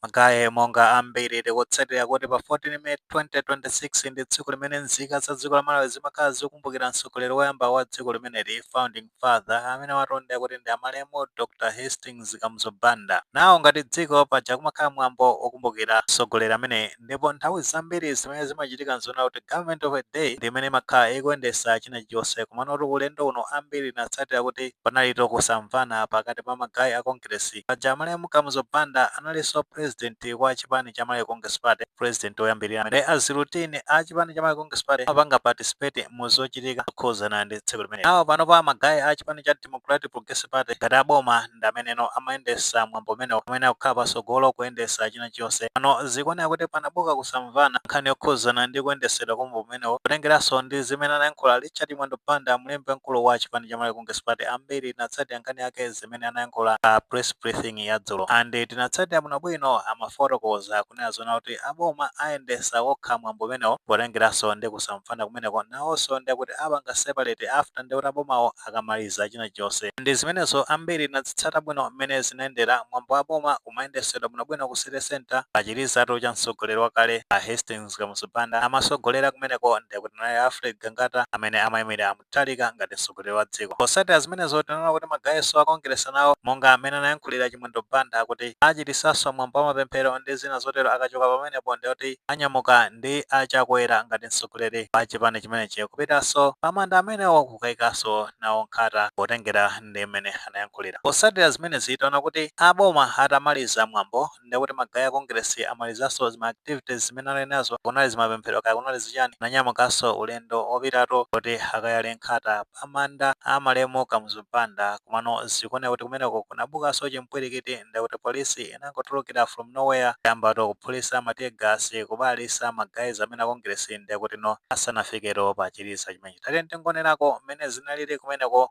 Magayi, monga ambiri tikutsatira kuti pa 14 May 2026 ndi tsiku limene nzika za dziko la Malawi zimakhala zikumbukira mtsogoleri woyamba wa dziko limeneli, founding father, amene watondera kuti ndi amalemu Dr Hastings Kamuzu Banda. Nawo ngati dziko, paja kumakhala mwambo wokumbukira mtsogoleri ameneyi ndipo nthawi zambiri zimene zimachitika nzonena kuti Government of the Day ndi imene imakhala ikuyendetsa china chilichonse. Komanotu ulendo uno ambiri tinatsatira kuti panalitu kusamvana pakati pa magayi a Kongeresi Paja amalemu Kamuzu Banda analinso president wa chipani cha Malawi Congress Party, president oyambilira amene a zirutini a chipani cha Malawi Congress Party amapanga participate mu zochitika zokhudzana ndi tsiku limeneli. Nawo panopa ma guy a chipani cha Democratic Progressive Party ngati a boma ndi ameneno amayendesa mwambo umenewo, amene akukhala pasogolo kuyendesa china chilichonse. Pano zikuoneka kuti panabuka kusamvana pa nkhani yokhudzana ndi kuyendesedwa kwa mwambo umenewo potengeranso ndi zimene anayankhula Richard Chimwendo Banda mlembi wamkulu wa chipani cha Malawi Congress Party, ambiri tinatsatira nkhani yake. zimene anayankhula pa press briefing ya dzulo and tinatsatira bwinobwino amafotokoza kunena zoona kuti aboma ayendesa okha mwambo umenewo potengeranso ndi kusamvana kumeneko nawonso ndekuti apanga separate after ndekuti abomawo akamaliza china chonse ndi zimenezo ambiri tinazitsata bwino mmene zinayendera mwambo wa boma umayendesedwa bwinobwino ku city centre pa chilizatu cha mtsogoleri wakale a Hastings Kamuzu Banda amasogolera kumeneko ndekuti ndi a Alfred Gangata amene amaimirira Mutharika ngati mtsogoleri wa dziko. Potsatira zimenezo, tinaona kuti magayinso a Kongeresi nawo, monga mmene anayankhulira Chimwendo Banda, akuti achititsanso mwambo wa mapemphero ndi zina zotero akachoka pamenepo ndiye kuti anyamuka ndi a Chakwera ngati mtsogoleri wa chipani chimenechi kupitanso pa manda amenewo kukaikanso nawo nkhata potengera ndi mmene anayankhulira. Potsatira zimenezi, taona kuti a boma atamaliza mwambo. ndekuti ma guy a congress amalizanso zima activities zimene anali nazo kunali zimapemphero kaya kunali zichani ananyamukanso ulendo opitatu kuti akayale nkhata pa manda a malemu Kamuzu Banda komano zikuoneka kuti kumeneko kunabukanso chimpwilikiti ndekuti police inangotulukira from nowhere kuyambatu kuphulisa ma tear gas kubalalitsa ma guy amenewa a congress ndekutino asanafiketu pa chiliza chimenechi tatiyeni tingonerako mmene zinalili kumeneko.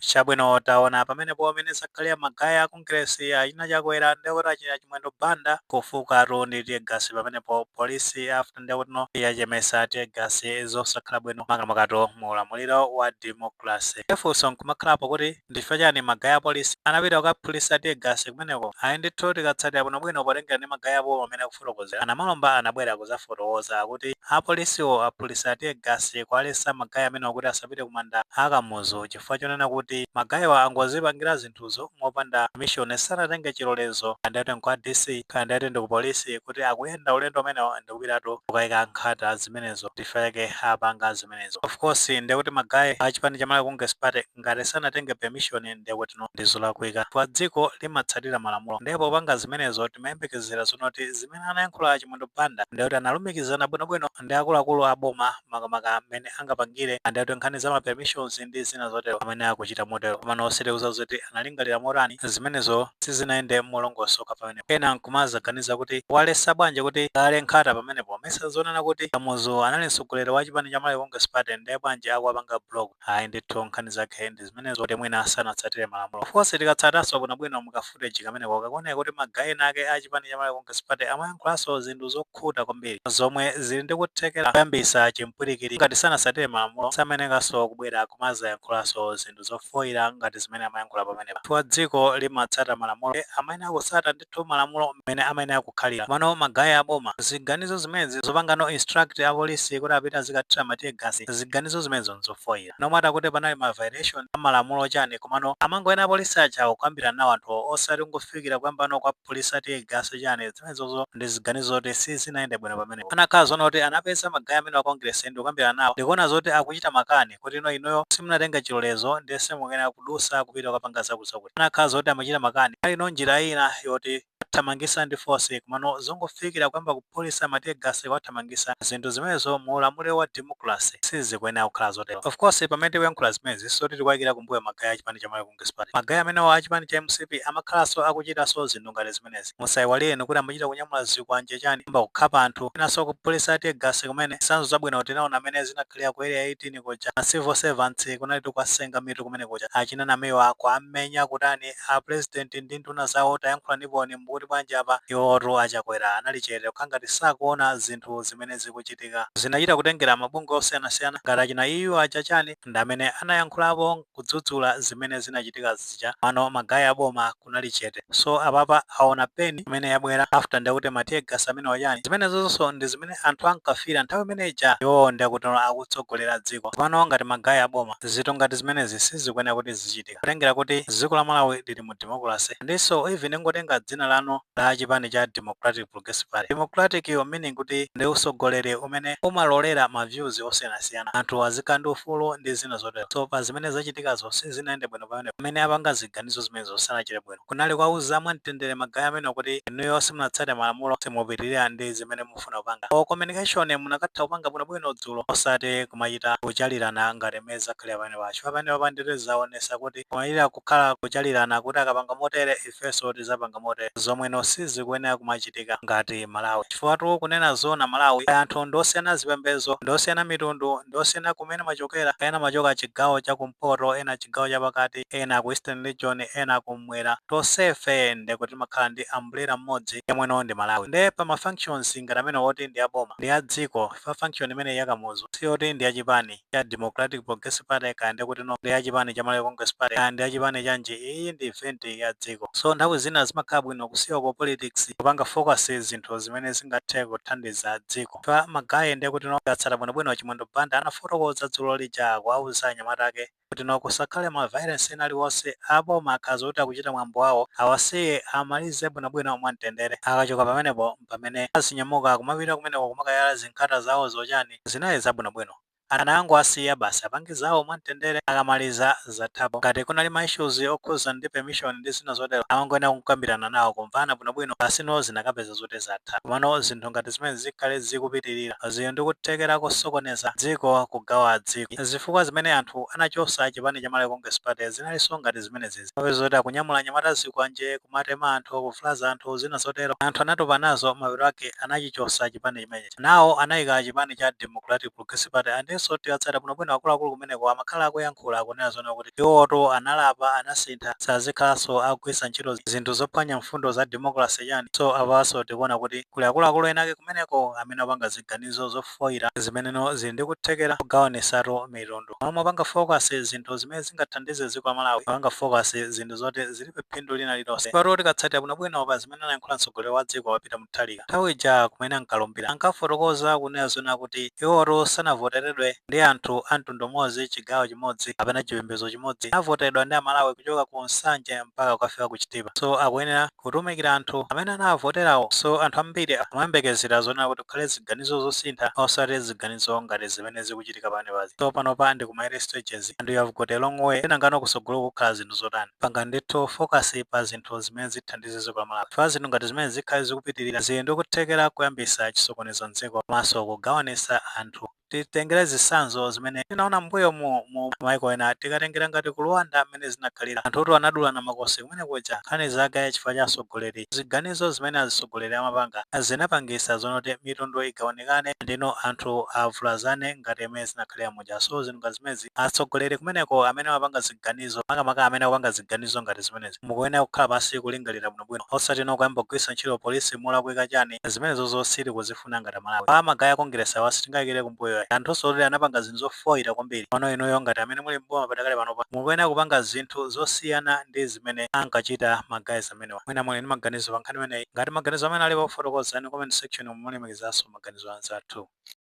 chabwino taona pamenepo mmene zakhalira magayi a kongresi achina Chakwera ndekuti achina Chimwendo Banda kufukatu ndi tear gas pamenepo polisi after ndekutino yachemesa tear gas zosakhala bwino makamakatu mu ulamuliro wa democracy funso nkumakhalapo kuti Ndichifukwa chani ma guy apolisi anapita kukaphulitsa tear gas kumeneko? Ayi ndithu tikatsatira bwino bwino potengera ndi ma guy abowo mamene akufotokozera, anamalomba anabwera kuzafotokoza kuti apolisiwo aphulitsa tear gas kuwaletsa ma guy amenewa kuti asapite kumanda a Kamuzu chifukwa chonena kuti ma guywa angozipangira zinthuzo mopanda permission sanatenge chilolezo kaya ndikuti nkwa DC kaya ndikuti ndi kupolisi kuti akuyenda ulendo umenewo ndikupita kukayika nkhata zimenezo ndichifukwa chake apanga zimenezo. Ofcourse ndekuti ma guy a chipani cha Malawi Congress Party ngati sanatenge permission nde kuti no ndi zolakwika chifukwa dziko limatsatira malamulo nde popanga zimenezo timayembekezera zonoti zimene anayankhula a Chimwendo Banda nde kuti analumikizana bwinobwino ndi akuluakulu a boma makamaka mmene angapangire nde kuti nkhani za ma permissions ndi zina zotero amene akuchita motero komano sitikudziwa zoti analingalira motani zimenezo sizinayende molongosoka pamenepo ena nkumazaganiza kuti awaletsa bwanji kuti akaike nkhata pamenepo mesa zonena kuti Kamuzu anali mtsogoleri wa chipani cha Malawi Congress Party nde bwanji akuwapanga block Ayi ndithu nkhani zake ndi zimenezo kuti mwina sanatsatire malamulo. Of course tikatsatanso bwinobwino mu ka footage kameneko kakuoneka kuti ma guy ena ake a chipani cha Malawi Congress Party amayankhulanso zinthu zokhuta kwambiri zomwe zili ndi kuthekera koyambisa chimpwirikiti ngati sanatsatire malamulo samayenekanso kubwera kumazayankhulanso zinthu zofoira ngati zimene amayankhula pamenepa chifukwa dziko limatsata malamulo nde amayenera kutsata ndithu malamulo mmene amayenera kukhalira komano ma guy a boma ziganizo zimenezi zopangano instruct a police kuti apite azikathira ma tear gas ziganizo zimenezo nzofoira no matter kuti panali ma violation a malamulo chani komano amangoyenera apolice ajawo kukambirana nawo anthuwo osati kungofikira kuyambano kuwaphulisa tear gas chani zimenezozo ndi ziganizo zoti sizinayende bwino pamenepo anakhala zoona kuti anapeza ma guy amenewa a congress ndikukambirana nawo ndikuona zoti akuchita makani kuti no inuyo simunatenga chilolezo ndiye simukuyenera kudusa kupita kukapanga zakutizakuti. Anakhala zoti amachita makani alino njira ina yowathamangisa ndi force komano zongofikira kuyamba kuphulisa ma tear gas kuwathamangisa zinthu zimenezo mu ulamuliro wa democracy sizikuyenera kukhala zotero. Of course pamene tikuyankhula zimenezi sikuti tikuwaikira kumbuyo ma guy a chipani cha Malawi Congress Party. Ma guy amenewa a chipani cha mcp amakhalanso akuchitanso zinthu ngati zimenezi. Musaiwale inu kuti amachita kunyamula zikwanje chani, kuyamba kukhapa anthu, kwinanso kuphulisa tear gas kumene. Zitsanzo zabwino tinaona mmene zinakhalira ku Area 18 kuja. Ma civil servants kunalitu kuwasenga mitu kumene kuja. Achina Namiwa kuwamenya kutani? A President ndi nduna zawo tayankhulaniponi mukuti bwanji apa? Iwowotu a Chakwera anali chete kukhala ngati sakuona zinthu zimene zikuchitika. Zinachita kutengera mabungwe osiyanasiyana ngati achina EU aja chani, ndi amene anayankhulapo. kudzudzula zimene zinachitika zija komano ma guy aboma kunali chete so apapa aona pain imene yabwera after ndekuti ma tear gas amenewa chani zimenezonso ndi zimene anthu ankafira nthawi imene ija iwowo ndekuti akutsogolera dziko tsopano ngati ma guy aboma zinthu ngati zimenezi sizikuyenera kuti zizichitika potengera kuti dziko la Malawi lili mu democracy ndinso even ingotenga dzina lanu la chipani cha democratic Progressive Party. Democratic yo meaning kuti ndi usogoleri umene umalolera ma views osiyanasiyana, anthu azikhala ndi ufulu ndi zina zotero. So pa zimene zachitikazo sizinayende bwino pamenepo. Amene apanga ziganizo zimenezo sanachite bwino. Kunali kuwauza mwa mtendere magaye amenewo kuti inuyo simunatsate malamulo, simupitilira ndi zimene mufuna kupanga. Or communication munakatha kupanga bwinobwino dzulo osati kumachita kuchalirana ngati mmene zakhalira pamenepa. Chifukwa pamenepa ndiye zaonesa kuti kumachita kukhala kuchalirana kuti akapanga motere if. ifenso tizapanga motere zomweno sizikuyenera kumachitika ngati Malawi chifukwatu kunena zoona Malawi anthu ndiosiyana zipembezo ndiosiyana mitundu ndiosiyana kumene amachokera ena amachoka chigawo cha kumpoto ena chigawo cha pakati ena ku eastern region ena kum'mwera tonsefe ndekuti timakhala ndi umbrella mmodzi yemweno ndi Malawi nde pa ma functions ngati amenewa oti ndi aboma ndi adziko chifukwa function imeneyi ya Kamuzu siyoti ndi yachipani ya Democratic Progressive Party kaya ndekuti no ndi ya chipani cha Malawi Congress Party kaya ndi ya chipani chanji iyi ndi event ya dziko so nthawi zina zimakhala bwino kusiya ku politics kupanga focus zinthu zimene zingathe kuthandiza dziko chifukwa magaye ndekuti no atsata bwinobwino Chimwendo Banda anafotokoza dzulo lija kuwauza anyamata ake kuti no kusakhale ma violence ena aliwonse aboma akakhala kuti akuchita mwambo wawo awasiye amalize bwinobwino mwamtendere akachoka pamenepo mpamene azinyamuka kumapita kumeneko kumakayala zinkhata zawo zochani zinali zabwino bwino anangowasiya basi apange zawo mwamtendere akamaliza zathapo ngati kunali ma issues okhuza ndi permission ndi zina zotero amangoyenera kukambirana nawo kumvana bwino bwino pasi no zinakapezeka zoti zatha komano zinthu ngati zimenezi zikhale zikupitirira zili ndi kuthekera kosokoneza dziko kugawa dziko zifukwa zimene anthu anachosa chipani cha Malawi Congress Party zinalinso ngati zimenezizi zoti akunyamula anyamata zikwanje kumatema anthu kuvulaza anthu zina zotero anthu anatopa nazo mapeto ake anachichosa chipani chimenechi. Nawo anaika a chipani cha Democratic Progressive Party and iwonso tikatsata bwinobwino akuluakulu kumeneko amakhala akuyankhula akunena zonena kuti iwowotu analapa anasintha sazikhalanso akugwiritsa ntchito zinthu zophwanya mfundo za democracy chani so apanso tikuona kuti kuli akuluakulu ena ake kumeneko amene akupanga ziganizo zofoira zimeneno zili ndi kuthekera kogawanisatu mitundu. Mmalo mopanga focus zinthu zimene zingathandize dziko la Malawi mukupanga focus zinthu zoti zilibe phindu lina lililonse. Chifukwa-tu tikatsatira bwinobwino pa zimene. zimene anayankhula mtsogoleri wa dziko a Peter Mutharika nthawi ija kumene ankalumbira. Ankafotokoza kunena zoona kuti iwowotu sanavoteredwe ndi anthu a mtundu umodzi, chigawo chimodzi kapena chipembedzo chimodzi. Anavoteredwa ndi Amalawi kuchoka ku Nsanje mpaka kukafika ku Chitipa. So akuyenera kutumikira anthu amene anawavoterawo. So anthu ambiri akumayembekezera zonena kuti kukhale ziganizo zosintha osati ziganizo ngati zimene zikuchitika pamenepazi. So panopa ndi kuma early stages and we have got a long way. Nangano kutsogoloku kukhala zinthu zotani? panga ndithu focus pa zinthu zimene zithandize dziko la Malawi chifukwa zinthu ngati zimenezi zikhale zikupitilira zili ndi kuthekera koyambisa chisokonezo mdziko komanso kugawanisa anthu. Titengere zitsanzo zimene tinaona m'mbuyomu mu maiko ena tikatengera ngati ku Rwanda mmene zinakhalira anthutu anadulana makosi kumene kuja nkhani zake chifukwa cha atsogoleri ziganizo zimene azitsogoleri amapanga zinapangisa zonoti mitundu igawanikane ndi anthu avulazane ngati mmene zinakhalira mu muja so zinthu ngati zimenezi atsogoleri kumeneko amene amapanga ziganizo makamaka amene akupanga ziganizo ngati zimenezi mukuyenera kukhala pansi kulingalira bwinobwino osati no kuyamba kugwiritsa ntchito polisi molakwika chani zimenezozo sitikuzifuna ngati amalawi pa magaye a kongeresi awa sitingayikire kumbuyo ayi anthunso oti anapanga zinthu zofoyira kwambiri pano inuyo ngati amene muli mboma padakali panopa mukuyenera kupanga zinthu zosiyana ndi zimene ankachita magayez amenewa mwina muli ndi maganizo pa nkhani imeneyi ngati maganizo amene alipo fotokozani mu comment section mulemekezanso maganizo a anzathu